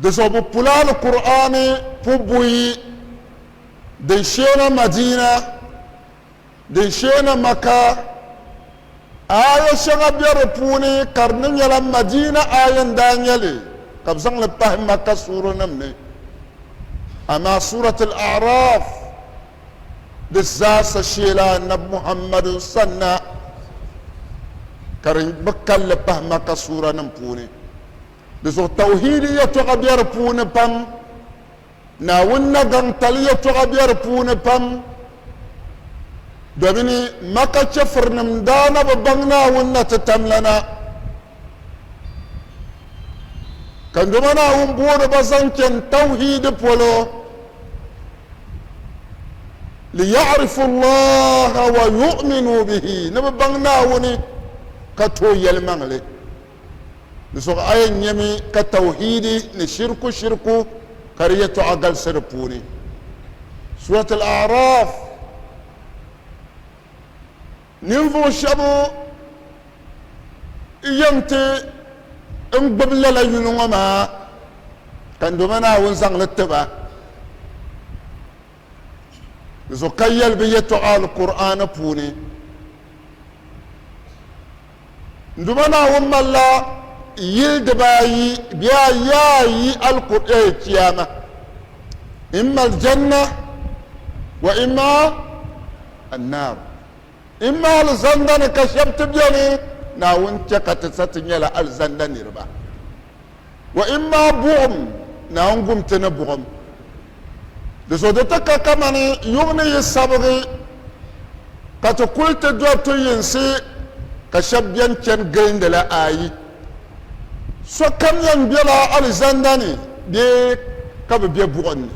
Di zuɣu bɛ pula Alkur'aani pu buyi din sheena Madiina, din sheena Maka. Aaya shɛŋa be di puuni ka di ni nyɛla Madiina aaya n-daa nyɛ li ka bɛ zaŋ li pahi Maka suuranim ni. Amaa Suurat Al-A'raaf di zaa sa sheela Annabi Muhammadu sanna ka di bi kal li pahi Maka suuranim puuni. Di zuɣu tawhiidi yɛtɔɣa be di puuni pam, Naawuni nagaŋtali yɛtɔɣa be di puuni pam, domini Maka chɛfurinim daa na bi baŋ Naawuni na ti tam la na, ka doma Naawuni booni ba zaŋ chani tawhiidi polo, liya'rifu Allaha wa yu'minu bihi, ni bɛ baŋ Naawuni ka tooi yɛlimaŋli. Di zuɣu a yɛn nyami ka tawhiidi ni shiriku shiriku ka di yɛtɔɣa galisi di puuni. Surat Al-A'raf, Ninvuɣu shɛba yɛn ti n gbubi lala yuli ŋɔ maa ka n Duuma Naawuni zaŋ li ti ba. Di zuɣu ka yɛli bɛ yɛtɔɣa Alkur'aana puuni N Duuma Naawuni malila yili dibaayi bee ayaayi alkur'ɛɛ Chiyaama. N mali Janna wa imma annaar. N mi alizanda ni ka shɛba ti beni, Naawuni chɛ ka ti sa ti nyɛla alizanda niriba. Wa in maa buɣim ni a ni gum ti ni buɣim. Di zuɣu di ti ka kamani yuŋ ni yi sabigi ka ti kul ti dɔri to yinsi ka shɛb bɛn chani gilindi la ayi. Sokam yɛn bela alizanda ni bee ka bɛ be buɣim ni.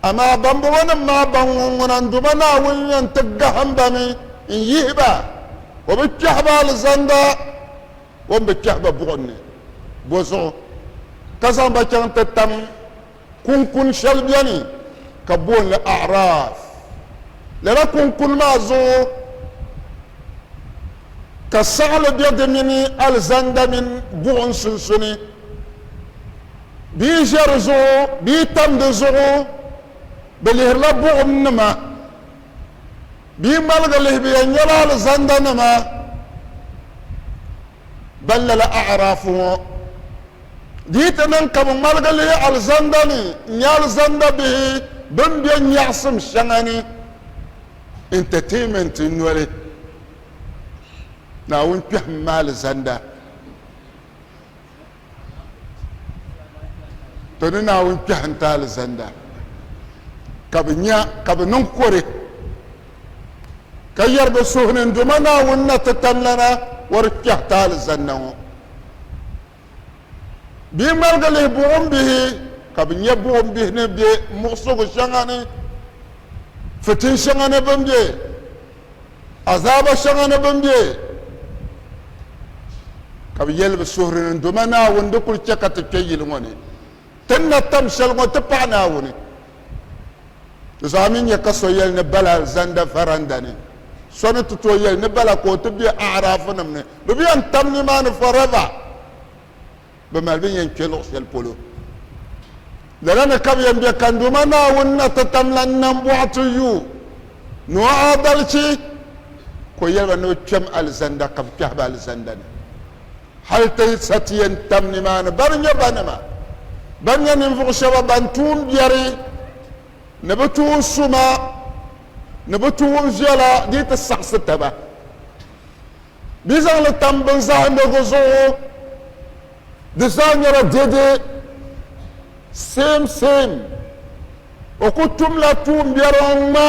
Amaa bambɔŋɔnim maa ban ŋun ŋuna n-duma Naawuni yɛn ti gahim ba mi n-yihi ba, o bi kpɛhi ba alizanda. o ni bi kpɛhi ba buɣim ni bɔzuɣu, ka zaŋ ba chaŋ ti tam kuŋkuni shɛli beni ka booni li A'raaf. Lala kuŋkuni maa zuɣu ka saɣili be di mini alizanda mini buɣim sunsuni. Bɛ yi ʒe di zuɣu bɛ yi tam di zuɣu bɛ lihirila buɣimnima. Bɛ yi ŋmaligi lihi bɛ yɛn nyɛla alizandanima ban lala A'raafu ŋɔ. Di yi ti niŋ ka bɛ ŋmaligi lihi alizanda ni n-nyɛ alizanda bihi bɛn be nyaɣisim shɛŋa ni entertainment noli, Naawuni kpɛhim ma alizanda. To ni Naawuni kpɛhi n-ti alizanda, ka bɛ nya ka bɛ niŋ kɔre, ka yɛri bɛ suhu ni, Ndoma Naawuni na ti tanlana wɔri kpɛhi ti alizanda ŋɔ. Bɛ yi ŋmaligi lihi buɣim bihi, ka bɛ nya buɣim bihi ni be muɣisigu shɛŋa ni, fitin shɛŋa ni bɛ ni be. azaaba shɛŋa ni bɛn be, ka bɛ yɛli bɛ suhuri ni, Doma Naawuni di kul chɛ ka ti kpe yili ŋɔ ni, ti ni na tam shɛli ŋɔ ti paɣi Naawuni. Di zuɣu a mi nya ka so yɛli ni bala zanda varanda ni, so ni ti tooi yɛli ni bala ka o ti be A'raafunim ni, bɛ bi yɛn tam nimaani forever. bɛ mali bɛ yɛn kpe luɣ shɛli polo. Lala ni ka bɛ yɛn be Kandoma Naawuni na ti tam lan nambɔɣu ti yu ni o aadalichi, ka o yɛli ba ni bɛ kpɛm alizanda ka bɛ kpɛhi ba alizanda ni, hal ti sa ti yɛn tam nimaani. Bɛ ni nyɛ ba nima, bɛ ni nyɛ ninvuɣ shɛba bɛn tuun biɛri ni bɛ tuun suma ni bɛ tuun viɛla dii ti saɣisi taba. Di zaŋ li tam bin zahindirigu zuɣu di zaa nyɛla dede same same o ku tumla tuumbiɛri o ŋma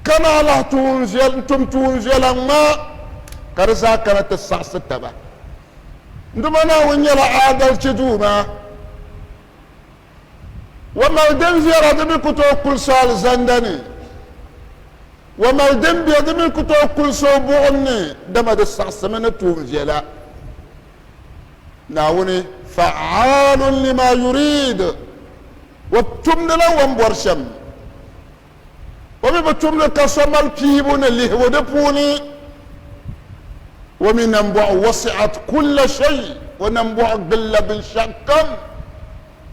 ka naa lahi tuun tum tuunviɛla ŋma ka di zaa kana ti saɣisi taba. N Duuma Naawuni nyɛla aadalichi Duuma. wa mali din viɛra di mi ku tooi kuli so alizanda ni, wa mali din bɛ di mi ku tooi kuli so o buɣim ni, dama di siɣisimi ni tuun viɛla. Naawuni, Fa'aalun lima yurid, O tumdila o ni bɔri shɛm. o mi bi tumdi ka so mali piibu ni lihigu di puuni o mi nambɔɣu wasi'at kulla shay o nambɔɣu gbilila binshɛɣukam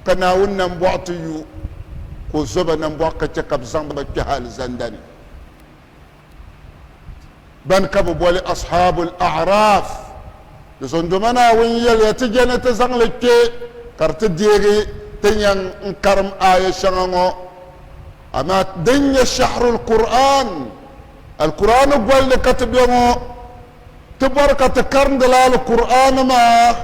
ka Naawuni nambɔɣu ti yu ka o zo ba nambɔɣu ka chɛ ka bɛ zaŋ ba kpɛhi alizanda ni ban ka bɛ boli Ashabul A'raf. Di zondoma Naawuni yɛliya, Ti je ni ti zaŋ li kpe ka di ti deegi ti nyaŋ n-karim aaya shɛŋa ŋɔ. Amaa din nyɛ Shahrul Kur'aan, Alkur'aani gɔlli ka ti be ŋɔ. Ti bɔri ka ti karindila Alkur'aani maa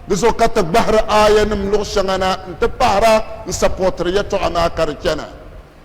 di zuɣu ka ti gbahiri aayanim luɣ shɛŋa na nti pahira n-sapɔtiri yɛtɔɣa maa ka di chana.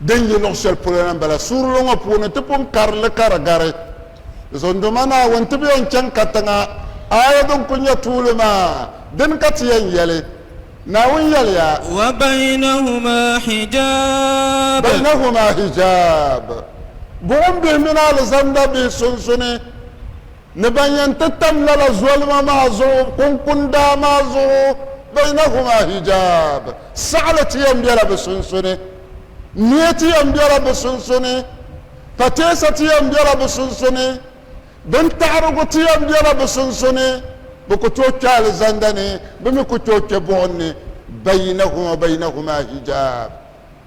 din yi luɣ shɛli polo la m-bala. Suurili ŋɔ puuni ti pun kari li ka di gari, Zondoma Naawuni ti bi yɛn chaŋ katiŋa aaya din kul nyɛ tuuli maa. Dini ka ti yɛn yɛli? Naawuni yɛliya. Wa bainahuma hijaab. Bainahuma hijaab. Buɣim bihi mini alizanda bihi sunsuni. Ni ban yɛn ti tam lala zolima maa zuɣu kunkundaa maa zuɣu, baynahuma hijaab, saɣili ti yɛn bela bɛ sunsuni, niɛ ti yɛn bela bɛ sunsuni, pateesa ti yɛn bela bɛ sunsuni, bintaɣirigu ti yɛn bela bɛ sunsuni, bɛ ku tooi kpe alizanda ni, bɛ mi ku tooi kpe buɣim ni, baynahuma baynahuma hijaab.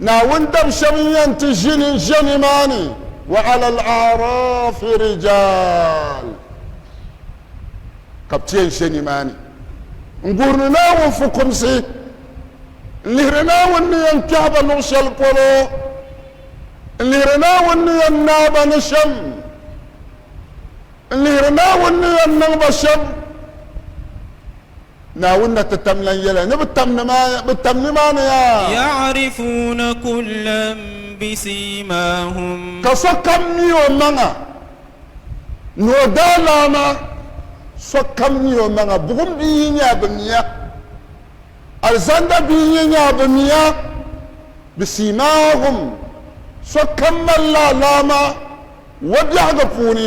Naawuni dab shɛb n yɛn ti ʒi ni ʒe nimaani, wa ala al aarafi rijaal, ka bɛ ti yɛn ʒe nimaani n guhiri Naawuni fukumsi, n lihiri Naawuni ni yɛn kpɛhi ba luɣ shɛli polo, n lihiri Naawuni ni yɛn naai ba ni shɛm, n lihiri Naawuni ni yɛn niŋ ba shɛm Naawuni na ti tam lan yɛla ni bɛ tam nimaani yaa. Ya'rifuuna kullan bisiimaahum. Ka sokam mi o maŋa ni o daalaama, sokam mi o maŋa, buɣim bia yi nya bɛ miya, alizanda bia yi nya bɛ miya, bisiimaahum, sokam mali la alaama wabiɛhigu puuni.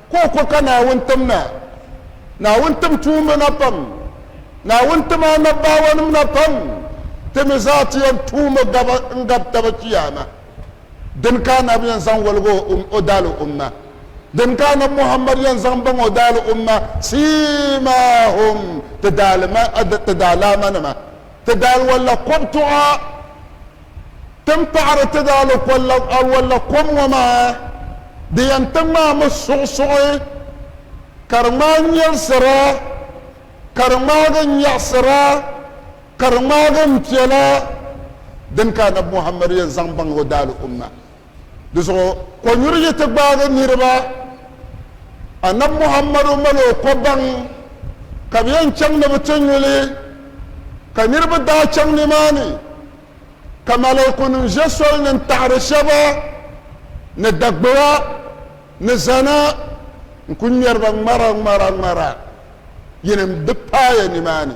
ka o ko ka Naawuni tim na. Naawuni tim tuumba na pam. Naawuni tim anabbaawɔnim na pam. Ti mi zaa ti yɛn tuumi gaba n-gab taba Chiyaama. Dini ka Annabi yɛn zaŋ wɔlig o daali umma? Dini ka Annabi Muhammad yɛn zaŋ baŋ o daali umma? Siimaahum, ti daalaama nima, ti daaliwalla kɔbtuɣa. Ti ni paɣiri ti daalɔwalla kom ŋɔ maa di yɛn ti ŋmaami suɣusuɣu ka di ŋmaai nyɛlisira ka di ŋmaagi nyaɣisira ka di ŋmaagi m-piɛla dini ka Annabi Muhammad yɛn zaŋ baŋ o daalɔumma. Di zuɣu kɔnyuri yi ti gbaagi niriba, Annabi Muhammadu mali o kɔbaŋ ka bɛ yɛn chaŋ ni bɛ ti nyu li, ka niriba daa chaŋ nimaani, ka malaaikunim ʒe soli ni n-taɣiri shɛba ni Dagbeya ni zana n-kuli ŋmɛri ba ŋmara ŋmara ŋmara, yinim di paaya nimaani.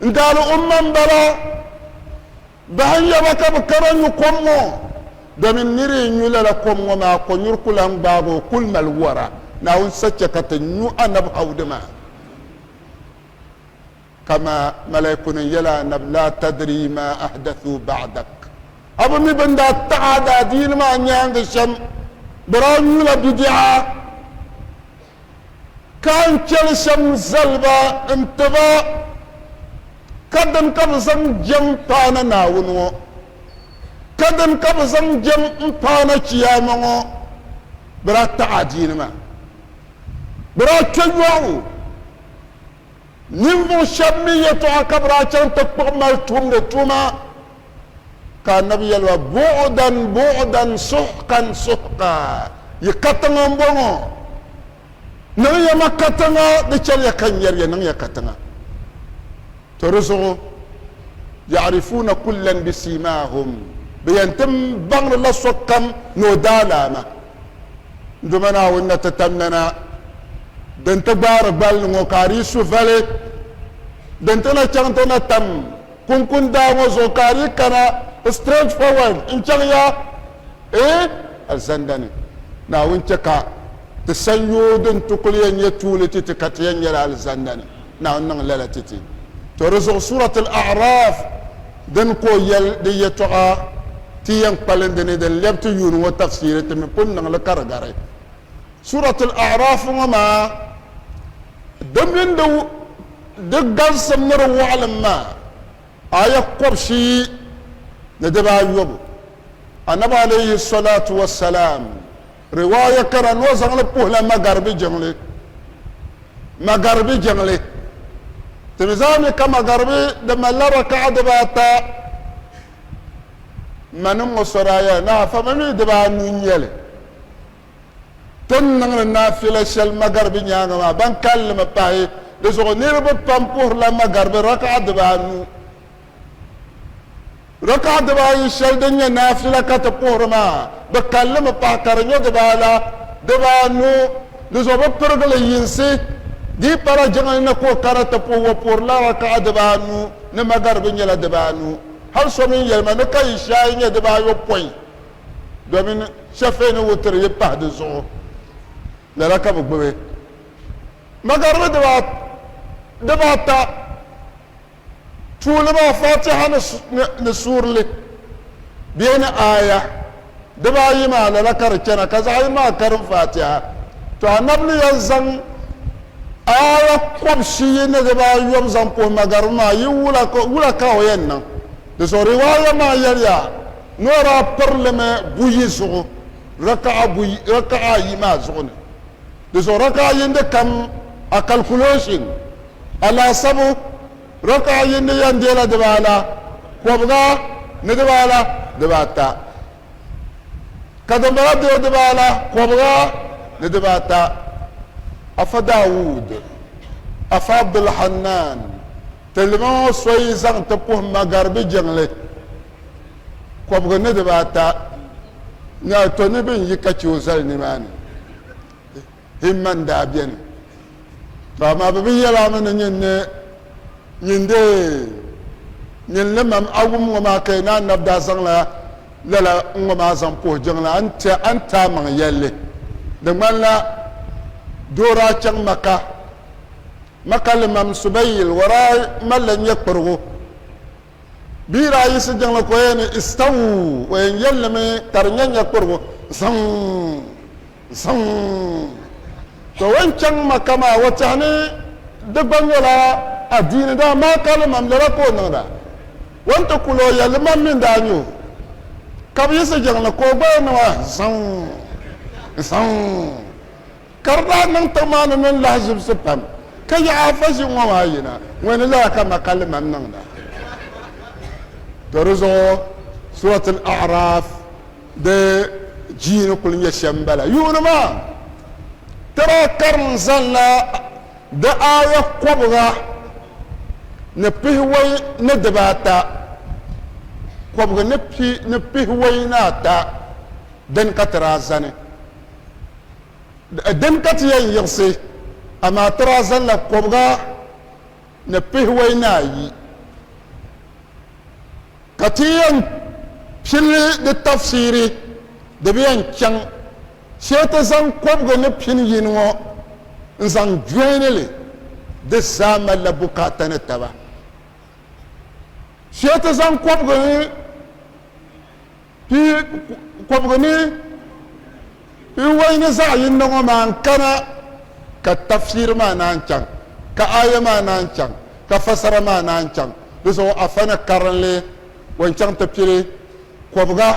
N daali umma m-bala, bahi n-ya ba ka bɛ kana nyu kom ŋɔ, domin nir yi nyu lala kom ŋɔ maa, kɔnyuri ku lan gbaag o, kul mali wara. Naawuni sa chɛ ka ti nyu anab Hawudu maa, kaman malaaikunim yɛl a Annabi, Laa tadrii maa ahdathuu ba'dak, A bi mi bɛn daa taɣ a daadiini maa nyaaŋa shɛm, bɔraa nyula bidiɛɣu. Ka n chɛli shɛm zali ba nti ba, ka dini ka bɛ zaŋ jɛm paana Naawuni ŋɔ? Ka dini ka bɛ zaŋ jɛm m paana Chiyaama ŋɔ? Bɛ daa taɣi adiini maa. Bɛ daa kpe yɔɣu. Ninvuɣ shɛb mi yɛtɔɣa ka bɛ daa chaŋ ti kpuɣi mali tumdi tuma. Ka Annabi yɛli ba, Buɣdan, buɣdan, suhkan, suhka, yi katiŋa m-bɔŋɔ. Niŋ ya ma katiŋa, di chani ya ka n yɛri ya, niŋ ya katiŋa. To di zuɣu, Ya'rifuuna kullan bisiimaahum, bɛ yɛn ti baŋdila sokam ni o daalaama. Ndoma Naawuni na ti tam nana din ti gbaari gbal ni ŋɔ, ka a dii suhu vali din ti na chaŋ ti na tam kunkun daa ŋɔ zuɣu, ka a dii kana straight forward n-chaŋ ya, ee, alizanda ni. Naawuni chɛ ka ti sanyoo din ti kul yɛn nyɛ tuuli titi ka ti yɛn nyɛla alizanda ni. Naawuni niŋ lala titi. To di zuɣu Surat Al-A'raf. Dini ka o yɛli di yɛtɔɣa ti yɛn kpalindi ni din lɛbi ti yuuni ŋɔ tafsiri ti mi pun niŋ li ka di gari. Suuratul A'raaf ŋɔ maa di mini di di galisim ni di wɔɣilim maa aya kɔbishiyi ni dibaa yɔbu. Annabi alayhi sɔlaatu wassalaam Riwaaya kara ni o zaŋ li puhi la Magaribi jiŋli. Magaribi jiŋli. Ti mi zaa mi ka Magaribi di mali la raka'a diba ata. M ma nim ŋɔ so daa yɛli ni afa mi mi diba anu n-nyɛli. Ti ni niŋ li naafila shɛli Magaribi nyaaŋa maa ban kalinli mi pahi di zuɣu niriba pam puhiri la Magaribi raka'a diba anu. Raka'a dibaa ayi shɛli din nyɛ naafila ka ti puhiri maa, di kalli mi pahi ka di nyɔ dibaa ala, dibaa anu, di zuɣu bi pirigi li yinsi. Di yi pala jiŋli ni ka o kara ti puhi, o puhiri la raka'a dibaa anu ni magaribi nyɛla dibaa anu. Hali so mi yɛli ma ni ka ishaai nyɛ dibaa yopɔin domin shɛfɛɛ ni wutiri yi pahi di zuɣu lala ka bi gbubi magaribi dibaa ata. tuuli maa Fatiha ni suurili bee ni aaya dibaa ayi maa lala ka di chana ka zaɣ'yini maa karim Fatiha to Annabi ni yɛn zaŋ aaya kɔb'shi yi niriba ayɔbu zaŋ puhi magariba maa yi wula ka o yɛn niŋ di zuɣu riwaaya maa yɛliya ni o daa pirlimi buyi zuɣu raka'a ayi maa zuɣu ni Di zuɣu raka'a yindi kam a calculation alaasabu raka'a yindi yan deela dibaa la kɔbiga ni dibaa la dibaa ata ka din bala dee dibaa la kɔbiga ni dibaa ata Afa Daawud Afa Abdulhannaan ti lima ŋɔ soyi zaŋ ti puhi magaribi jiŋli. kɔbigu ni diba ata ni a to ni bɛn yi ka chɛ o zali nimaani himma n-daa beni. Tɔ amaa bɛ bi yɛl a mi ni nyin ni nyin deei nyin li mam a wum ŋɔ maa ka yi ni a nab daa zaŋla lala n ŋɔ maa zaŋ puhi jiŋli a ni ti a ni ti amaŋ yɛl li. Di ŋmanila doo daa chaŋ Maka ma ka li mam Subayyil, wara malila nyɛkpirigu. Bɛ yi daa yiɣisi jiŋli ka o yɛn ni, Istawu! O yɛn yɛli li mi ka di nyɛ nyɛkpurigu, Zaŋ! Zaŋ! Ka o yɛn chaŋ Makka maa, o tɛhi ni di gba nyɛla adiini, dama maa ka limam lala ka o niŋda. O ni ti kuli o yɛli, Limam mi n-daa nyɛ o, ka bɛ yiɣisi jiŋli ka o gba yɛn ni maa, Zaŋ! Zaŋ! Ka di daa niŋ tiŋ maa ni niŋ lahazibisi pam, ka yaɣi afa ʒiŋ ŋɔ maa yina, ŋɔ ni lala ka ma ka liman niŋda. Do di zuɣu Surat Al-A'raf di jii ni kuli nyɛ shɛm m-bala. Yuuni maa, tira karim zaŋla di aaya kɔbiga ni pihiwei ni dibaata, kɔbigi ni pihiwei ni ata dini ka tira zani. Dini ka ti yɛn yiɣisi, amaa ti daa zaŋla kɔbiga ni pihiwɔi ni ayi, ka ti yɛn pili di tafsiri, di bi yɛn chaŋ shee ti zaŋ kɔbiga ni pini yini ŋɔ n-zaŋ jɔini li, di zaa malila bukaata ni taba. Shee ti zaŋ kɔbiga ni. Pi kɔbigu ni pi wayi ni zaɣ yinda ŋɔ maa n-kana ka tafsiri maa naan chaŋ, ka aya maa naan chaŋ, ka fasara maa naan chaŋ. Di zuɣu afani karinli ŋɔ n-chaŋ ti pili kɔbiga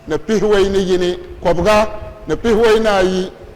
ni pihiwayi ni yini, kɔbiga ni pihiwayi ni ayi,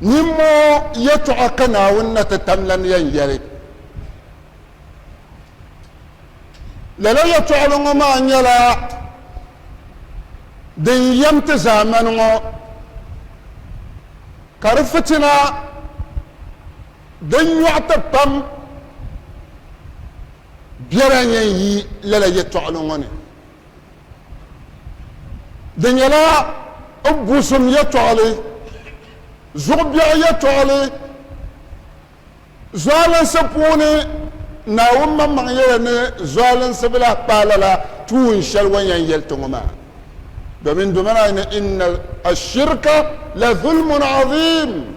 Nimmɔɔ yɛtɔɣa ka Naawuni na ti tamla ni yɛn yɛli. Lala yɛtɔɣili ŋɔ maa nyɛla din yɛm ti zaamani ŋɔ, ka di fitina din nyɔɣi ti pam biɛla n-yɛn yi lala yɛtɔɣili ŋɔ ni. Di nyɛla n busim yɛtɔɣili, zuɣu biɛɣu yɛtɔɣili, zualinsi puuni Naawuni maŋmaŋ yɛla ni zualinsi bi lahi paai lala tuun shɛli o ni yɛn yɛli ti ŋɔ maa. Domin doma daa yi ni, Inna ashirka la dhulmun adhim.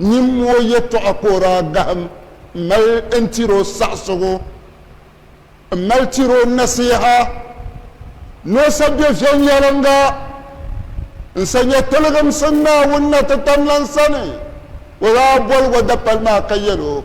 Nyimmoo yɛtɔɣa ka o daa gahim m-mali n-tiri o saɣisigu, m-mali tiri o nasiha ni o sa bɛ viɛnyɛliŋga n-sa nyɛ tiligimsim Naawuni na titamlan sani. O daa boligu dapali maa ka yɛl o.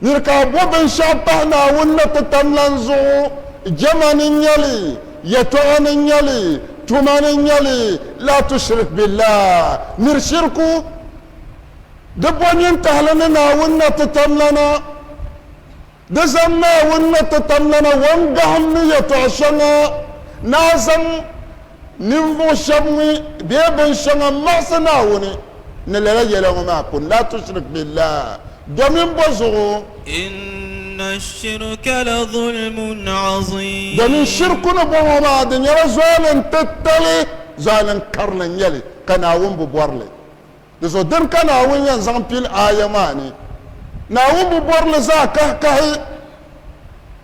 Nir ka a bo binshɛɣu pahi Naawuni ni ti tam lan zuɣu, jɛma ni n-nyɛ li, yɛtɔɣa ni n-nyɛ li, tuma ni n-nyɛ li, laa tushrik billaah, nir shiriku di bo nintahili ni Naawuni ni ti tam lana, di zaŋ Naawuni ni ti tam lana wɔŋ gahim ni yɛtɔɣ shɛŋa ni a zaŋ, Ninvuɣ shɛb ŋun bee binshɛŋa maɣisi Naawuni ni lala yɛla ŋɔ maa kuni, laa tushrik billaah, domin bɔ zuɣu? Inna shirka la zulmun aziim. Domin shirku ni bɔŋɔ maa, di nyɛla zualin titali, zualin karili n-nyɛ li, ka Naawuni bi bɔri li. Di zuɣu dini ka Naawuni yɛn zaŋ pili aaya maa ni Naawuni bi bɔri li zaa kahikahi,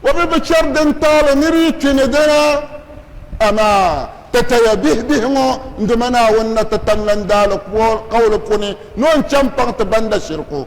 o bi bi chɛri din taali ni di yi kpi ni dina. Amaa! Tataya bihibihi ŋɔ n-dimi Naawuni na ti tamlan daali kauli puuni ni o ni chaŋ paŋ ti banda shiriku.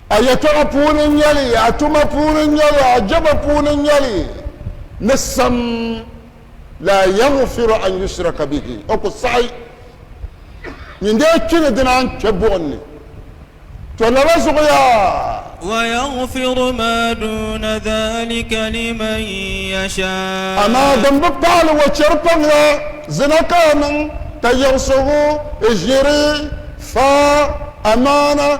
A yɛtɔɣa puuni n-nyɛ li, a tuma puuni n-nyɛ li, a jɛma puuni n-nyɛ li, ni sam, laa yaɣifiru an yushraka bihi, O ku saɣi nyin dee kpi ni dina n-kpe buɣim ni. Tɔ lala zuɣu yaa! Wa yaɣifiru maa duuna dhalika liman yashaa. Amaa din bi paali wa chɛri paŋ la, zina ka a niŋ, ka yiɣisigu, ʒiri, faai, amaana,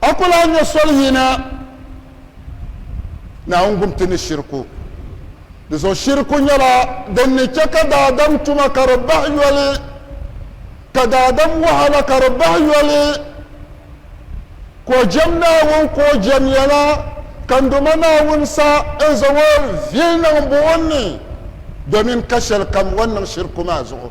A ku lahi nyɛ soli yina Naawuni gumti ni shiriku. Di zuɣu shiriku nyɛla din ni chɛ ka daadam tuma ka di bahi yoli, ka daadam wahala ka di bahi yoli, ka o jɛm Naawuni ka o jɛm ya la, ka ndoma Naawuni sa n-zaŋ o vili niŋ buɣim ni domin ka shɛlikam o ni niŋ shiriku maa zuɣu.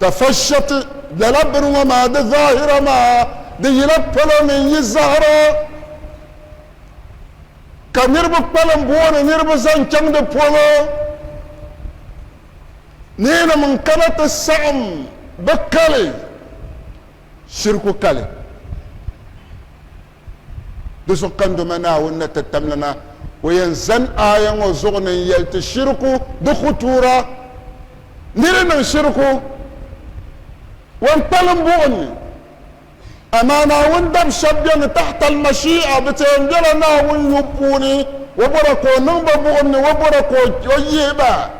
Tafashat, lala bini ŋɔ maa di zahira maa di yila palo mini yi zahira ka niriba kpalim booni niriba zaŋ chaŋ di polo neenima n kana ti saɣim bɛ kali shiriku kali. Di zuɣu ka n Duuma Naawuni ni ti tamli na. O yɛn zani aaya ŋɔ zuɣu ni n yɛli ti shiriku di khutuura. Niri niŋ shiriku, wan kpalim buɣim ni. Amaa Naawuni dab shɛb beni tahtal mashi'a, bɛ tɛɛn bela Naawuni yubu puuni, o bɔra ka o niŋ ba buɣim ni o bɔra ka o yihi ba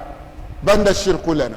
banda shirikulana.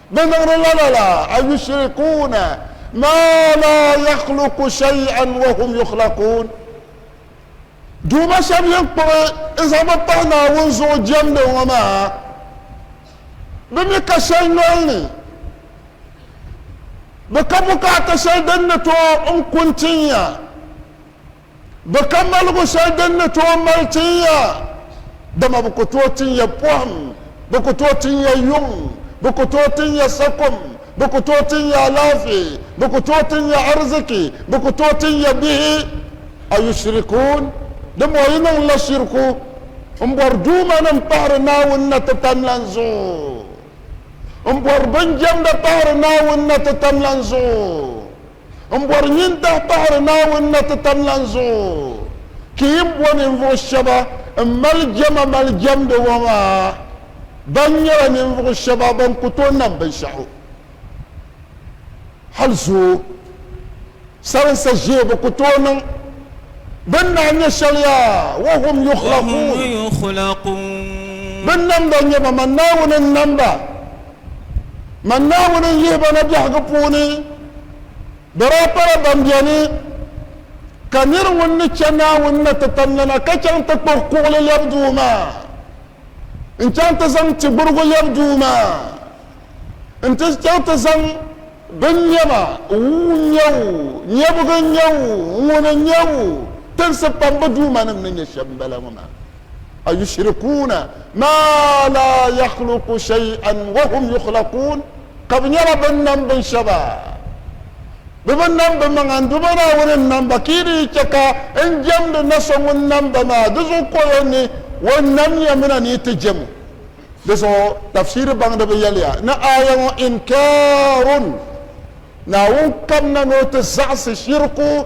Bɛ niŋdi lala la, ayushrikuuna maa laa yakhluqu shay'an wa hum yukhlaquun, Duuma shɛb yɛn kpuɣi n-zaŋ bɛ pahi Naawuni zuɣu jɛmdi ŋɔ maa, bɛ mi ka shɛli nol ni, bɛ ka bukaata shɛli din ni tooi n-ku n-tin ya. Bɛ ka maligu shɛli din ni tooi mali tin ya, dama bɛ ku tooi tin ya pɔhim, bɛ ku tooi tin ya yuŋ, bɛ ku tooi tin ya sakum, bɛ ku tooi tin ya alaafee, bɛ ku tooi tin ya ariziki, bɛ ku tooi tin ya bihi. Ayushrikuun, dimbɔŋɔ yi niŋla shiriku m-bɔri duumanim pahiri Naawuni na ti tam lan zuɣu, m-bɔri binjɛmda pahiri Naawuni na ti tam lan zuɣu, M bɔri nyin dahi pahiri Naawuni na ti tam lan zuɣu. Ki yi bɔ ninvuɣ shɛba m-mali jɛma mali jɛmdi ŋɔ maa, ban nyɛla ninvuɣ shɛba bɛn ku tooi nam binshɛɣu hal zooi, salinsa ʒee bi ku tooi niŋ, bɛ ni daa nya shɛli yaa, wa hum yukhlaquun, bɛ nam ba n-nyɛ ba, man Naawuni n-nam ba. Man Naawuni n-yihi ba na biɛhigu puuni, di daa pala ban beni, ka nir ŋun ni chɛ Naawuni ni ti tam lana ka chaŋ ti kpuɣi kuɣili lɛbi duu maa, n-chaŋ ti zaŋ ti gburigu lɛbi duu maa, n-ti chaŋ ti zaŋ binnɛma wuu n-nyɛ o, nyɛbugu n-nyɛ o, ŋuni n-nyɛ o, tinsi pambu duumanim ni nyɛ shɛm m-bala ŋɔ maa. ayushirikuuna maa laa yakhluku shay'an wahum yukhlakuun ka bɛ nyɛla bɛn nam bin shɛba bɛ bi nam bɛ maŋa n-du ba Naawuni n-nam ba ka yi di yi chɛ ka n jɛmdi na so ŋun nam ba maa di zuɣu ka o yɛn ni o namya mina ni yi ti jɛm o. Di zuɣu tafsiri baŋdiba yɛliya ni aaya ŋɔ inkaarun Naawuni kamina ni o ti zaɣisi shiriku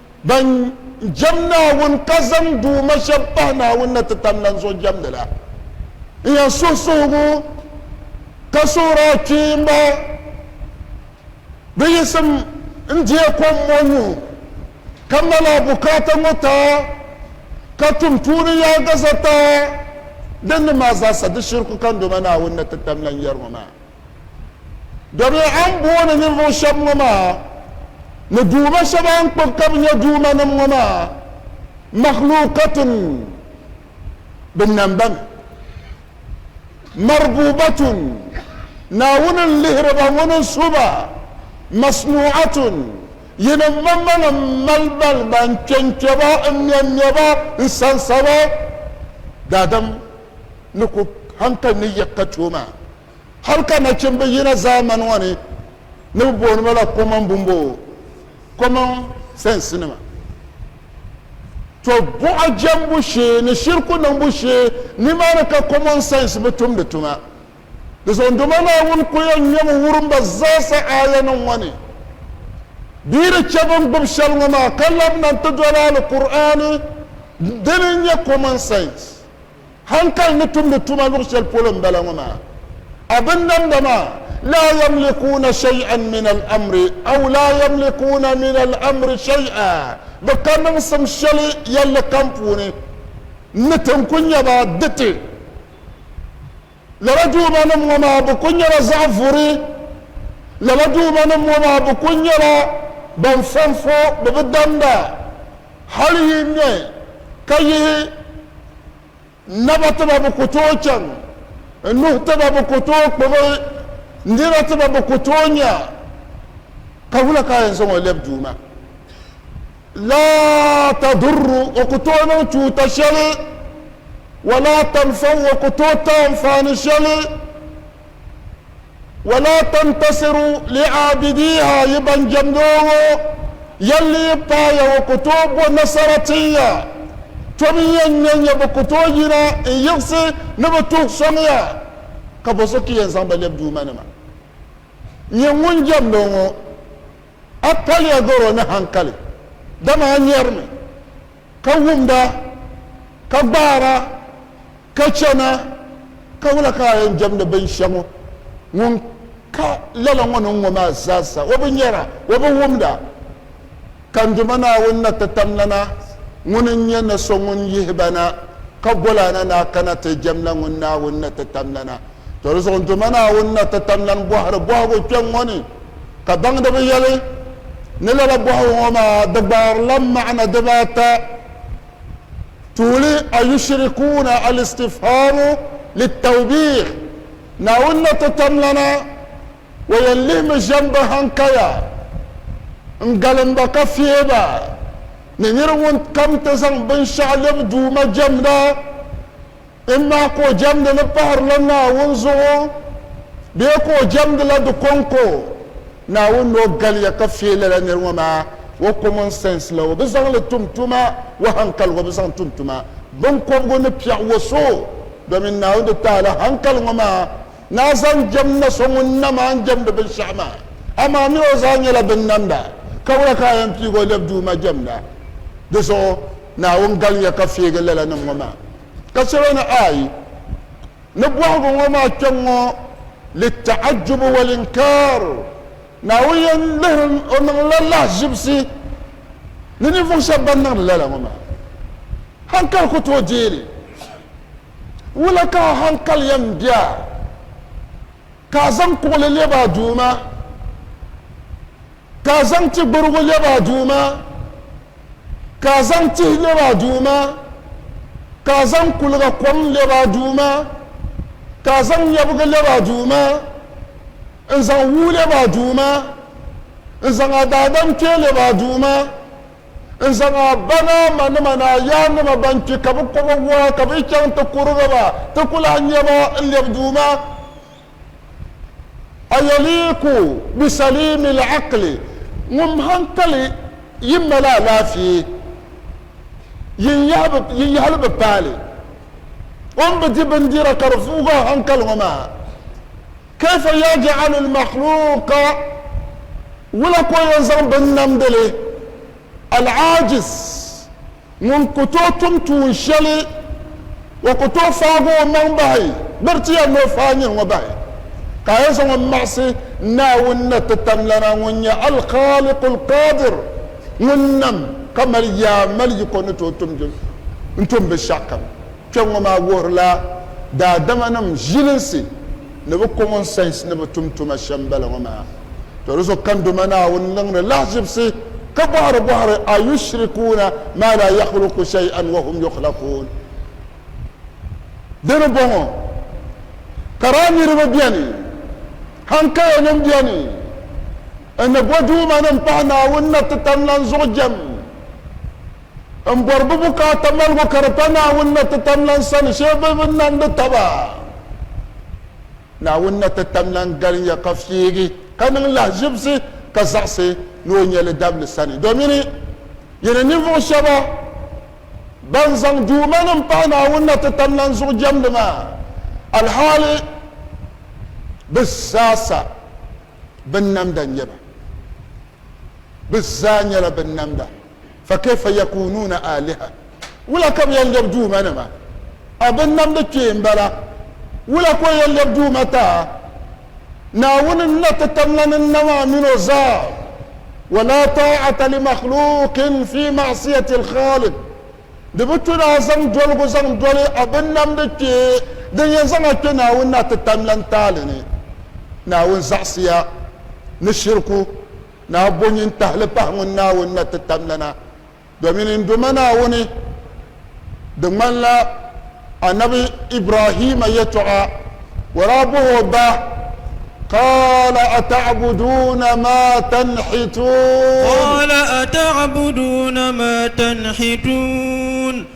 Ban jɛm Naawuni ka zaŋ duuma shɛb pahi Naawuni na ti tam lan zuɣu jɛmdi la, n yɛn suhi suhigu ka suhir a kpiimba, Bɛ yiɣisim n-deei kom ŋɔ nyu, ka mali a bukaata ŋɔ ta, ka tum tuuni yaagaza ta, din ni maa zaasa di shiriku kandoma Naawuni na ti tam lan yɛri ŋɔ maa? Dɔbia a ni booni ninvuɣ shɛb ŋɔ maa, ni duuma shɛb a ni kpuɣi ka bɛ nyɛ duumanim ŋɔ maa, makhluukatun, binnambani, marbuubatun, Naawuni n-lihiri ba, Ŋuni n-su ba, masnuu'atun, yinim manmaŋ m-mali ba li ba, n-kpe n-kpe ba, m-me m-me ba, n-sansa ba, Daadam. ni ku hankali ni yiɣi ka tooi maa. Hal ka nachimba yina zaamani ŋɔ ni ni bɛ booni ma la common bumboo, common sense nima, to buɣa jɛmbu shee ni shiriku niŋbu shee nimaani ka common sense bi tumdi tuma. Di zuɣu Duuma Naawuni ku yɛn nyami wurim ba zaasa aayanim ŋɔ ni. Bɛ ni chɛ bɛ ni gbibi shɛli ŋɔ maa ka labina nti doli Alkur'aani dini n-nyɛ common sense. hankali ni tumdi tuma luɣ shɛli polo m-bala ŋɔ maa. A binnamda maa, laa yamlikuuna shay'an min al-amri aw laa yamlikuuna min al-amri shay'a, bɛ ka niŋsim shɛli yɛlli kam puuni, ni ti n-ku nya ba di ti. Lala duumanim ŋɔ maa bɛ kul nyɛla zaɣ vuri. Lala duumanim ŋɔ maa bɛ kul nyɛla ban fɔnfɔ bɛ bi damda hal yi ŋmɛ ka yihi naba ti ba bɛ ku tooi chaŋ, nuhi ti ba bɛ ku tooi kpubi, nina ti ba bɛ ku tooi nya ka wula ka a yɛn zaŋ o lɛbi Duuma? Laa tadurru, o ku tooi niŋ chuuta shɛli, wa laa tanfau, o ku tooi ti anfaani shɛli, wa laa tantasiru li aabidiiha, yi ban jɛmdi o ŋɔ, yɛlli yi paaya o ku tooi bo nasara tin ya, tom n yɛn nya nya bɛ ku tooi yina n yiɣisi ni bɛ tuhi sɔŋ ya, ka bo so ka yɛn zaŋ ba lɛbi Duumanima? Nyɛ ŋun jɛmdi o ŋɔ. A paliya garo ni hankali, dama a nyarimi, ka wumda, ka gbaara, ka chana, ka wula ka a yɛn jɛmdi binshɛŋɔ? Ŋun ka lala ŋɔ ni ŋɔ maa zaasa, o bi nyara, o bi wumda. Ka n Duuma Naawuni na ti tam lana, ŋuni n-nyɛ ni so ŋun yihi ba na, ka gol a na ni a kana ti jɛmla ŋun Naawuni na ti tam lana? Tɔ di zuɣu Duuma Naawuni na ti tam lan bɔhiri bɔhigu kpɛŋ ŋɔ ni, ka baŋdiba yɛli ni lala bɔhigu ŋɔ maa di gbaarila maana dibaata, Tuuli, Ayushrikuuna, Al-Istifhaamu Lit-Tawbiih, Naawuni na ti tam lana, O yɛn lihimi ʒiɛm ba hankaya n-galim ba ka fihi ba ni nir ŋun kam ti zaŋ binshɛɣu lɛbi Duuma jɛmda? N maa ka o jɛmdi li pahirila Naawuni zuɣu bee ka o jɛmdila di kɔŋko? Naawuni ni o galiya ka feei lala nir ŋɔ maa, o common sense la o bi zaŋ li tum tuma, o hankaligu o bi zaŋ tum tuma. Biŋkɔbigu ni piɛɣu o so domin Naawuni di taala hankali ŋɔ maa. ni a zaŋ jɛm na so ŋun nam a ni jɛmdi binshɛɣu maa, amaa mi o zaa nyɛla binnamda, ka wula ka a yɛn piigi o lɛbi Duuma jɛmda? Di zuɣu Naawuni galimiya ka feegi lalanim ŋɔ maa, ka chɛ ba ni, Aai! Ni bɔhigu ŋɔ maa kpe ŋ-ŋɔ, lita'ajjubu wal-inkaar, Naawuni yɛn lihiri o niŋla lahiʒibisi ni ninvuɣ shɛb bɛn niŋdi lala ŋɔ maa. Haŋkali ku tooi deei li. Wula ka a hankali yɛn be a ka a zaŋ kuɣili lɛbi a Duuma, ka a zaŋ ti gburigu lɛbi a Duuma, ka a zaŋ tihi lɛbi a Duuma, ka a zaŋ kuliga kom lɛbi a Duuma, ka a zaŋ nyɛbiga lɛbi a Duuma, n-zaŋ wuu lɛbi a Duuma, n-zaŋ a daadam kpee lɛbi a Duuma, N zaŋ a ba ni a ma nima ni a yaannima ban kpi ka bɛ kɔba wɔɣa ka bɛ chaŋ ti kurigi ba, ti ku lahi nya ba n-lɛbi Duuma. Ayaliiku bisaliimi l-aqli, ŋun hankali yi mali alaafee, yin yahili bi paali o ni bi di bindira ka di vuugi a hankali ŋɔ maa. Kayfa yaj'alu al-makhluqa, Wula ka o yɛn zaŋ bini namdi li, al-'ajiz, ŋun ku tooi tum tuun shɛli, o ku tooi faagi o maŋ bahi, biri ti yɛli ni o faai nyini ŋɔ bahi, ka a yɛn zaŋ o maɣisi Naawuni na ti tamlana ŋun nyɛ al-Khaliq al-Qadir, ŋun nam ka mali yaa mali yiko ni tooi tum n-tum binshɛɣukam? Kpɛŋŋɔ maa wuhirila daadamanim ʒilinsi ni bɛ common sense ni bɛ tum tuma shɛm bala ŋɔ maa. Toli zuɣu Kandoma Naawuni niŋdi lahiʒibisi ka bɔhiri bɔhiri ayushrikuuna maa laa yakhluku shay'an wa hum yukhlakuun? Di ni bɔŋɔ, kara niriba beni, haŋkayanim beni, n ni bo duumanim pahi Naawuni na ti tam lan zuɣu jɛm? m-bɔri bɛ bukaata maligu ka di pa Naawuni na ti tam lan sani shee bɛ bi nandi taba. Naawuni na ti tam lan galinya ka fiigi ka niŋ lahiʒibisi ka zaɣisi ni o nya li dabili sani. Domini yi ni ninvuɣ shɛba ban zaŋ duumanim pahi Naawuni na ti tam lan zuɣu jɛmdi maa, alhaali bɛ zaa sa binnamda n-nyɛ ba. Bɛ zaa nyɛla binnamda. fakaifa yakunuuna aaliha wula ka bɛ yɛn lɛbi duuma nima a bɛ namdi kpee m-bala wula ka o yɛn lɛbi duuma ta Naawuni n na ti tam la ni na maa min o zaa wa laa taa'ata li makhluuqin fi ma'siyati al-khaaliq di bi tu ni a zaŋ doligu zaŋ doli a bɛ namdi kpee din yɛn zaŋ a kpe Naawuni na ti tam la n taali ni Naawuni zaɣisiya ni shiriku Naa bo nyin tahili pahi ŋun Naawuni na ti tam lana, domin n Duuma Naawuni, di ŋmanila Annabi Ibrahima yɛtɔɣa, o daa bɔh o ba, Qaala ata'buduuna maa tanhituun. Qaala ata'buduuna maa tanhituun.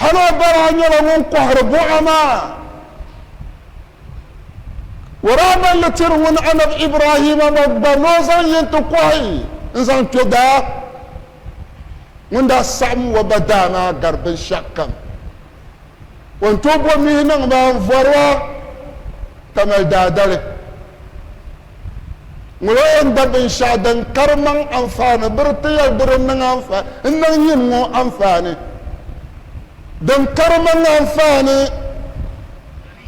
Hal o ba daa nyɛla ŋun kɔhiri buɣa maa. O daa balli tiri ŋun Anab Ibrahima ma gba ni o zaŋ yi nti kɔhi n-zaŋ kpe daa. Ŋun daa saɣim o ba daa maa gari binshɛɣukam. O ni tooi bo mihi niŋ ba n-vɔri ba, ka mali daadali. Ŋɔ la yɛn da binshɛɣu din kari maŋ anfaani biri ti yɛli di di niŋ yim ŋɔ anfaani. Din kari maŋ anfaani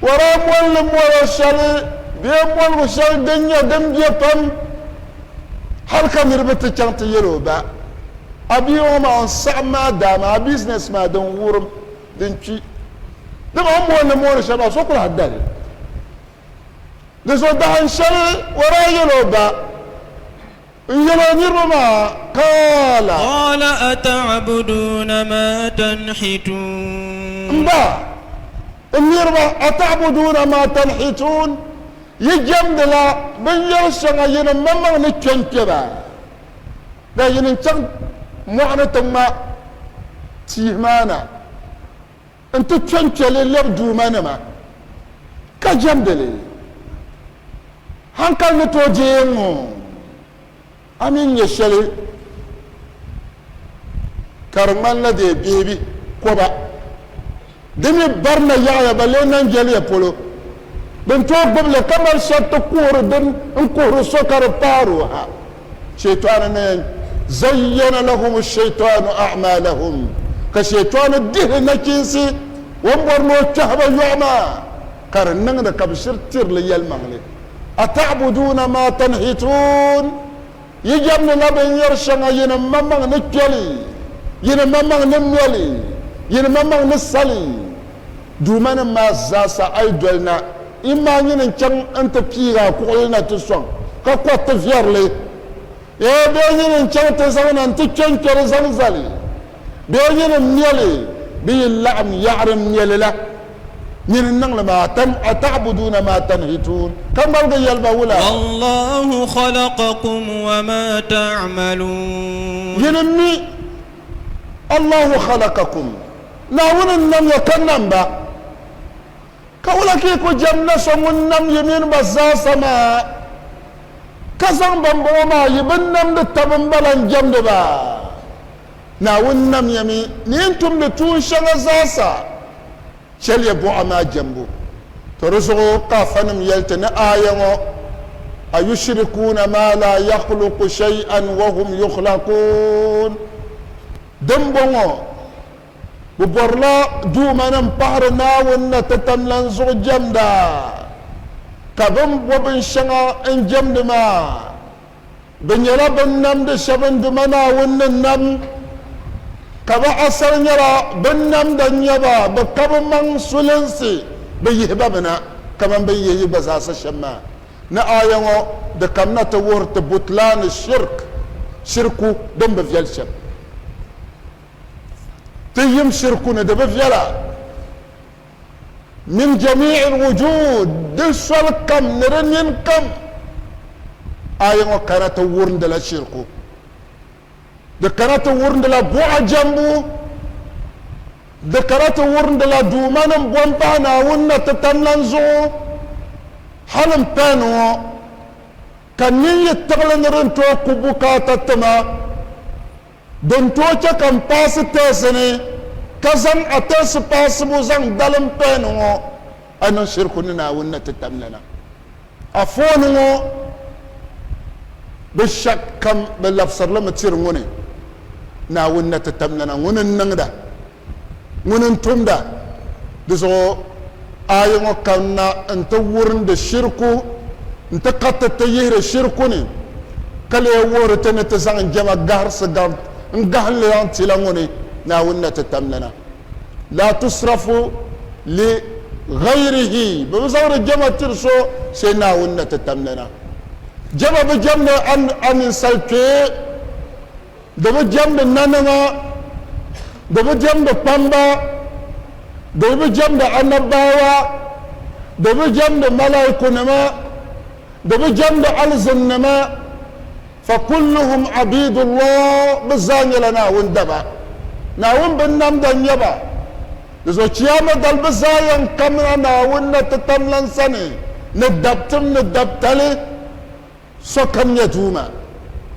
waraa mɔlli mɔlo shɛli bee mɔligu shɛli din nyɛ din be pam hali ka niriba ti chaŋ ti yɛl o ba a bia ŋɔ maa n saɣim maa daa maa a business maa din wurim din kpi. Dama a ni mɔlli mɔli shɛli maa so ku lahi da li. Di zuɣu dahin shɛli o daa yɛl o ba n-yɛl o niriba maa qaala. Qaala ata'buduuna maa tanhituun. M ba, n niriba, ata'buduuna maa tanhituun, yi jɛmdila binyɛr shɛŋa yi ni maŋmaŋ ni kpe n-kpe ba, dal yi ni chaŋ mɔɣu ni ti ŋma tihi maa na. Nti kpe n-kpe li lɛb Duuma nima ka jɛmdi li. Hankali ni tooi deei n ŋɔ, a mi n-nyɛ shɛli ka di ŋmanila dee beebi kɔba. Di mi barina yaɣiya ba lee naŋ jɛliya polo. Bɛ ni tooi gbibi li ka mali shɛriti kuhiri din n-kuhiri so ka di paari o ha. Shɛyitɔɣuni ni yɛn zayyana lahum shɛyitɔɣunu a'maalahum ka shɛyitɔɣuni dihi nachinsi o ni bɔri ni o kpɛhi ba yɔɣu maa ka di niŋdi ka bɛ shiri tirili yɛlimaŋli, Ata'buduuna maa tanhituun, Yi jɛmdila binyɛr shɛŋa yi ni mamaŋ ni kpɛli, yi ni mamaŋ ni mɛli, yi ni mamaŋ ni sali. Duumanim maa zaasa a yi doli na, yim maa nyini n-chaŋ nti piigi a kuɣili na ti sɔŋ, ka kɔri ti viɛri li. Ee, bee nyini n-chaŋ ti zaŋ na nti kpe n-kpe li zaŋ zali? Bee nyini m-me li, bɛ yi laɣim yaɣiri m-me li la? Nyini n-niŋ li maa, tam a taɣibuduuna maa tanihi tuun, ka ŋmaligi yɛli ba wula? Wallahu khalaqakum wa ma ta'malun. Yini m-mi. Allahu khalakakum, Naawuni n-nam ya ka nam ba, ka wula ka yi ku jɛm na so ŋun nam yi mini ba zaasa maa, ka zaŋ bambɔŋɔ maa yi bin namdi taba n-ba lan jɛmdi ba? Naawuni nam ya mi ni yi ni tumdi tuun shɛŋa zaasa. chɛliya buɣa maa jɛmbu. To di zuɣu ka afanim yɛli ti ni aaya ŋɔ, Ayushrikuuna maa laa yakhluqu shay'an wa hum yukhlakuun? Dimbɔŋɔ, bɛ bɔrila duumanim pahiri Naawuni na ti tam lan zuɣu jɛmda, ka bɛ ni bɔ binshɛŋa n-jɛmdi maa. Bɛ nyɛla bɛn namdi shɛba n duma Naawuni ni nam, ka bɛ asal nyɛla bɛn namda n-nyɛ ba, bɛ ka bɛ maŋ sulinsi bɛ yihi ba bina, kaman bɛ ni yihi yi gba zaasa shɛm maa. Ni aaya ŋɔ di kamina ti wuhiri ti butlan shirk, shirku din bi viɛl shɛm. Ti yim shirku ni di bi viɛla. min jamii'i l-wujuud, di soli kam ni di nini kam. Aya ŋɔ kana ti wurindila shirku. Di kana ti wurindila buɣa jɛmbu. Di kana ti wurindila duuma ni m-bo m-pahi Naawuni na ti tam lan zuɣu. Hali m pahi ni ŋɔ, ka nin yi tiɣili ni din tooi ku bukaata ti ma, Din tooi chɛ ka n paasi tɛɛsi ni ka zaŋ a tɛɛsi paasibu zaŋ dalim pɛɛn ŋɔ, a niŋ shiriku ni Naawuni ni ti tamya na. A foon ŋɔ bin shɛk kam bɛ labisiri li mi tiri ŋuni Naawuni ni ti tamya na, ŋuni n-niŋda? ŋuni n-tumda di zuɣu, aaya ŋɔ kanna n-ti wurindi shiriku n-ti kariti ti yihiri shiriku ni, ka lee wuhiri ti ni ti zaŋ jɛma gahirisi gabi n-gahinli zaŋ ti la ŋuni Naawuni na ti tamli na. Laa tusrafu li ghayrihi, bɛ bi zaŋdi jɛma tiri so sai Naawuni na ti tamli na. Jɛma bi jɛmdi a ninsal kpee. Di bi jɛmdi nanima, di bi jɛmdi kpamba, di bi jɛmdi annabbaawa, di bi jɛmdi malaikunima, di bi jɛmdi alizinnima, fa kulluhum abiidullah, bɛ zaa nyɛla Naawuni daba. Naawuni binnamda n-nyɛ ba. Di zuɣu Chiyaama dali bɛ zaa yɛn kamina Naawuni na titamlan sani ni dabtim ni dabtali. Sokam nyɛ Duuma.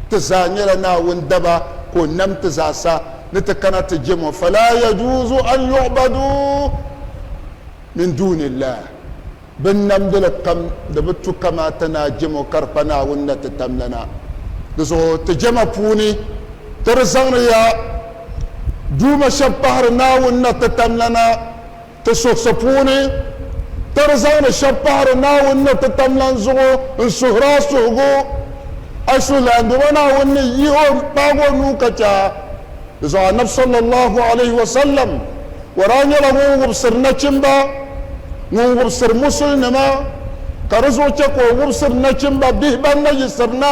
Ti zaa nyɛla Naawuni daba ka o nam ti zaa sa ni ti kana ti jem o. Falaa yajuuzu an yu'baduu min duunillah. Bɛ namdili kam di bi tu kamaata ni a jem o ka di kpa Naawuni ni ti tam lana. Di zuɣu ti jɛma puuni ti di zaŋdi ya Duuma shɛb pahiri Naawuni ni ti tam lana. ti suhisi puuni, ka di zaŋdi shɛb pahiri Naawuni ni ti tam lan zuɣu n-suhir a suhigu. A suhulaanbɛba Naawuni ni yihi o n-kpaag o nuu ka chɛ a ni zaŋ Annabi sallallahu alayhi wa sallam war a nyɛla ŋun wubisiri nachimba, ŋun wubisiri musulinima, ka di zuɣu chɛ ka o wubisiri nachimba bihi ban na yiɣisiri na.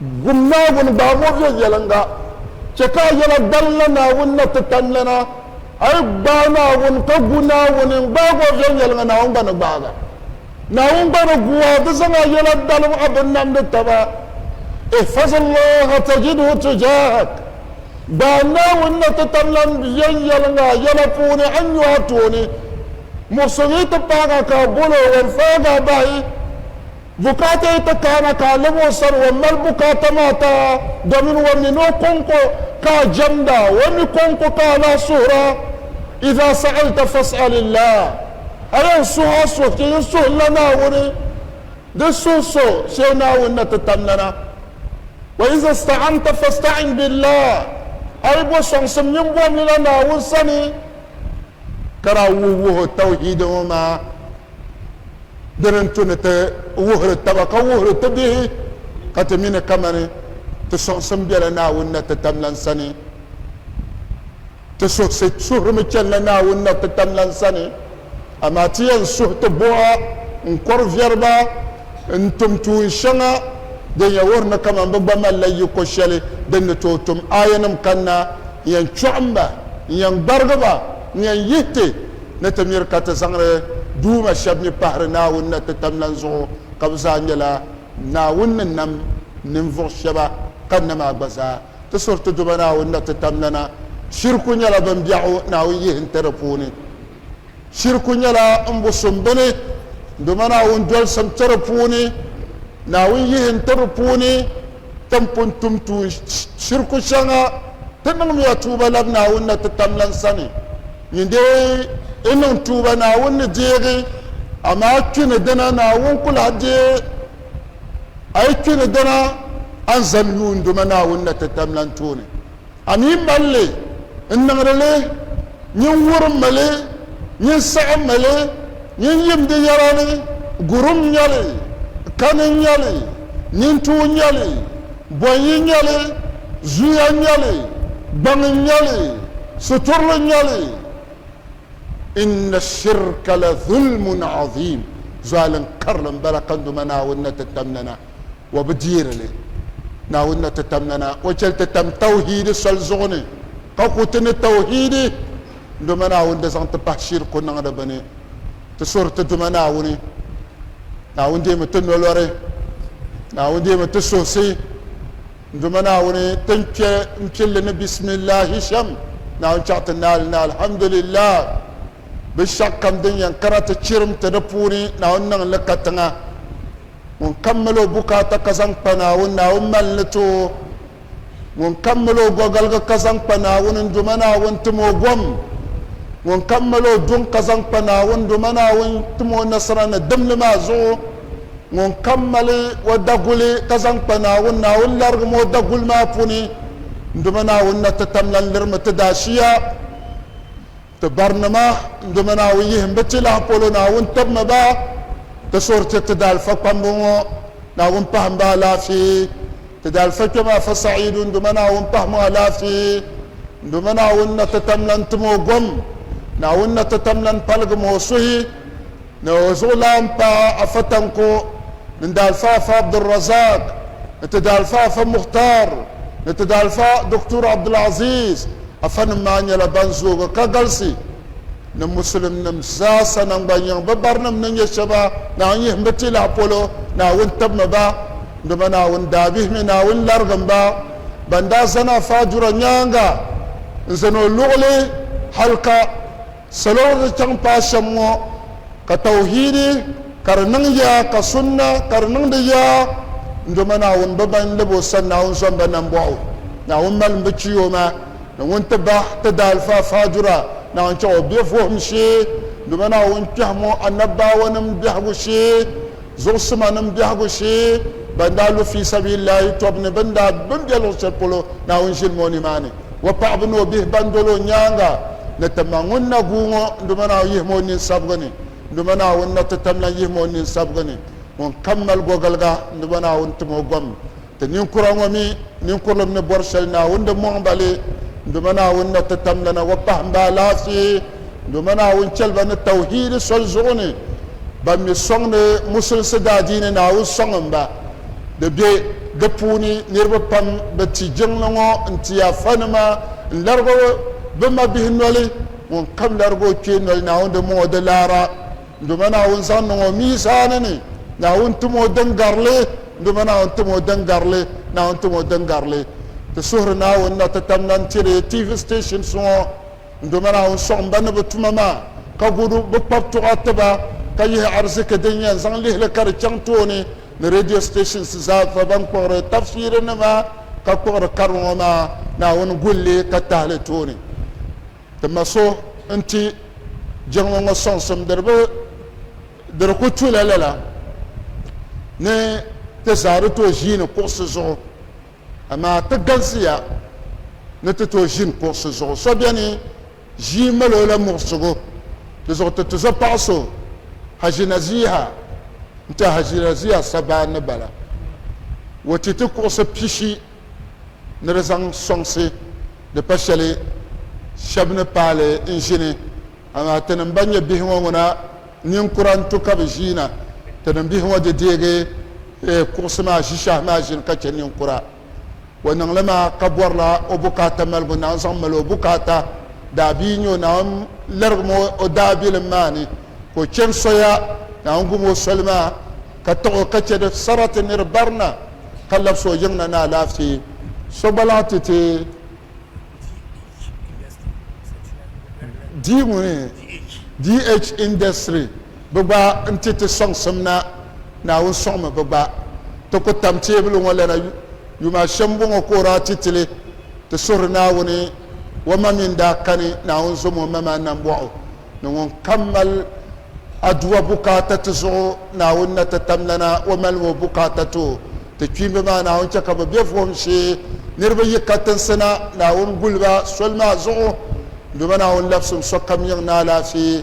Gum Naawuni gbaamo viɛnyɛliŋga. Chɛ ka a yɛla gbalinla Naawuni na ti tamlana. A yi gbaai Naawuni ka gu Naawuni n-gbaag o viɛnyɛliŋga, Naawuni gba ni gbaag a. Naawuni gba ni gu a di zaŋ a yɛla dalim a bin namdi taba. Ihfazillaha tajidhu tujahak. Gbaai Naawuni na ti tamlan viɛnyɛliŋga a yɛla puuni, a ni nyu a tooni. Muɣisigi yi ti paag a ka a bol o, wan faag a bahi. Bukaata yi ti kaana ka a lɛbi o sani, o mali bukaata maa ti a, domin o mi ni o kɔŋko ka a jɛmda, o mi kɔŋko ka a lahi suhir a. Iza sa'alta fas'alillah, a yɛn suhi a suhi chɛ yin suhila Naawuni, di suhi so shee Naawuni na ti tam nana. Wa iza ista'anta fasta'in billah, a yi bo sɔŋsim nyin bomlila Naawuni sani, ka daa wuhi wuhi o Tawhiid ŋɔ maa. Dini n tu ni ti wuhiri taba ka wuhiri ti bihi ka ti mi ni kamani ti sɔŋsim bela Naawuni natitamlan sani. Ti suhisi suhirimi chanila Naawuni natitamlan sani, amaa ti yɛn suhi ti buɣa n-kɔri viɛri ba n-tum tuun shɛŋa din yɛn wuhiri ni kamani bɛ gba malila yiko shɛli din ni tooi tum. Aayanim kanna n-yɛn chɔɣim ba, n-yɛn gbarigi ba, n-yɛn yihi ti. ni ti miri ka ti zaŋdi Duuma shɛb mi pahiri Naawuni na ti tam lan zuɣu, ka bɛ zaa nyɛla Naawuni ni nam ninvuɣ shɛba ka nam a gba zaa. Ti suhiri ti Duuma Naawuni na ti tam lana, Shiriku nyɛla bimbɛɣu Naawuni yihi n-ti di puuni. Shiriku nyɛla m-busim bini Duuma Naawuni dolisim ti di puuni, Naawuni yihi n-ti di puuni. Tin pun tum tuun shiriku shɛŋa ti niŋmiya tuuba labi Naawuni na ti tam lan sani. Nyin dee yi niŋ tuuba Naawuni ni deegi, amaa kpi ni dina Naawuni ku lahi deei a yi kpi ni dina a ni zani yuunduma Naawuni na ti tam lan tooni. A mi mali li n-niŋdi li nyin wurim mi li, nyin saɣim mi li, nyin yim di yɛla ni, Gurum n-nyɛ li, kani n-nyɛ li, nintuu n-nyɛ li, bɔnyi n-nyɛ li, zuya n-nyɛ li, gbaŋ n-nyɛ li, siturili n-nyɛ li. Inna shirka la dhulmun adhim, zualin karili m-bala ka n Duuma Naawuni ni ti tam nana. o bi deeri li. Naawuni na ti tam nana, o chɛli ti tam tawhiidi soli zuɣu ni, ka ku ti ni tawhiidi Duuma Naawuni di zaŋ ti pahi shiriku niŋdi bɛ ni. Ti suhiri ti Duuma Naawuni. Naawuni deemi ti nolɔri. Naawuni deemi ti suhisi. N Duuma Naawuni, ti ni kpe m-pili li ni bisimillahi shɛm, Naawuni chaɣi ti naali ni alhamdulillahi. Binshɛɣukam din yɛn kana ti chirim ti di puuni, Naawuni niŋ li katiŋa. ŋun kammali o bukaata ka zaŋ kpa Naawuni, Naawuni mali ni ti o, ŋun kammali o gɔgaliga ka zaŋ kpa Naawuni, n-doma Naawuni tim o gom, ŋun kammali o duŋ ka zaŋ kpa Naawuni, n-doma Naawuni tim o nasara ni dimli maa zuɣu, ŋun kammali o daguli ka zaŋ kpa Naawuni, Naawuni larigim o daguli maa puuni, n-doma Naawuni na ti tamlan lirimi ti daashia. Ti barinima n-dɔmi Naawuni yihim bɛ tilahi polo, Naawuni tibimi ba ti suhuri ti ti daalifa kpamba ŋɔ, Naawuni pahim ba alaafee, ti daalifa kpɛma afa Sa'iidu n-dɔmi Naawuni pahim o alaafee, n-dɔmi Naawuni na ti tam lan tim o gom, Naawuni na ti tam lan paligim o suhi. ni o zuɣulaan paɣa Afa Tanko ni Daalifa Afa Abdulrazak ni ti Daalifa Afa Mukhtar ni ti Daalifa Doctor Abdulaziz Afa nim maa nyɛla ban zoogi ka galisi ni Musulim nim zaasa nangban yiŋ bɛ barinim ni nyɛ shɛba Naawuni yihimbu tilahi polo Naawuni tibimi ba dama Naawuni daa bihimi Naawuni larigim ba ban daa zani Afa Dura nyaaŋa n zani o luɣuli hali ka Salo ni chaŋ paai shɛm ŋɔ ka tawhiidi ka di niŋ ya ka sunna ka di niŋdi ya, n doma Naawuni bɛ ban lab o sani Naawuni zom ba nambɔɣu, Naawuni malim bɛ chi o ma ni ŋun ti bah ti daalfaa faadura, Naawuni chaŋ o bɛ vuhim shee, n doma Naawuni kpɛhim o Annabbaawanim bɛhigu shee, zuɣusimanim bɛhigu shee, ban daa lu fii sabiililahi tɔbu ni bɛn daa bɛn bɛ luɣ shɛli polo Naawuni ʒilim o nimaani. o paɣiba ni o bihi ban dol o nyaaŋa ni ti ma ŋun na guui ŋɔ, Duuma Naawuni yihim o nini sabigu ni, Duuma Naawuni na ti tamlan yihim o nini sabigu ni, ŋun kam mali gogiliga, Duuma Naawuni tim o gom. Ti ninkura ŋɔ mi, ninkurilim ni bɔri shɛli Naawuni di mɔŋ ba li, Duuma Naawuni na ti tamlana wa pahim ba alaafee. Duuma Naawuni chɛli ba ni tawhiidi soli zuɣu ni, ban mi sɔŋdi Musulinsi daadiini Naawuni sɔŋ m-ba. di be di puuni niriba pam bi ti jiŋli ŋɔ n-ti Afanima n-larigi o bɛ mabihi noli, ŋun kam larigi o kpee noli Naawuni di mɔŋ o di laara, doma Naawuni zaŋ niŋ o miizaani ni, Naawuni tim o din garili, doma Naawuni tim o din garili, Naawuni tim o din garili. Ti suhiri Naawuni na ti tam lan tiri TV stations ŋɔ doma Naawuni sɔɣim ba ni bɛ tuma maa ka gudu bɛ kpabtuɣa tiba ka yihi ariziki din yɛn zaŋ lihili ka di chaŋ tooni. ni radio stations zaa fa ban kpuɣiri tafsiri nima ka kpuɣiri kari ŋɔ maa Naawuni gulli ka tahili tooni. Ti ma so n-ti jiŋli ŋɔ sɔŋsimdiriba di di ku tu la lala ni ti zaa di tooi ʒiini kuɣisi zuɣu amaa ti galisiya ni ti tooi ʒini kuɣisi zuɣu. So beni ʒii mali o la muɣisigu di zuɣu ti tuzo paɣa so Haji Naziha n-ti Haji Naziha Sabaa ni bala. O ti ti kuɣisi pishi ni di zaŋ sɔŋsi di pa shɛli shɛba ni paali n-ʒini. Amaa ti ni m-ba nya bihi ŋɔ ŋuna ninkura n-tu ka bɛ ʒiina. Ti ni bihi ŋɔ di deegi kuɣisi maa ʒishɛhi maa ʒini ka chɛ ninkura. o niŋ li maa ka bɔrila o bukaata maligu Naawuni zaŋ mali o bukaata daabia n-nyɛ o Naawuni lirigim o o daabilim maa ni ka o chani soya Naawuni gum o soli maa ka tiɣi o ka chɛ di sarati ni di barina ka labsi o yiŋna ni alaafee so gba lahi ti ti di ŋuni DH industry. Bɛ gba n-ti ti sɔŋsim na, Naawuni sɔŋmi bɛ gba. Ti ku tam teebuli ŋɔ lana yuma a shɛm bɔŋɔ ka o daa ti ti li? Ti suhiri Naawuni, O ma mi n-daa kani, Naawuni zom o ma maa nambɔɣu o ni ŋun kam mali Aduwa bukaata ti zuɣu, Naawuni na ti tam lana o malimi o bukaata ti o. Ti kpiimba maa Naawuni chɛ ka bɛ be vuhim shee, niriba yi katinsi na, Naawuni guli ba soli maa zuɣu. M Duuma Naawuni labsim sokam yiŋ ni alaafee,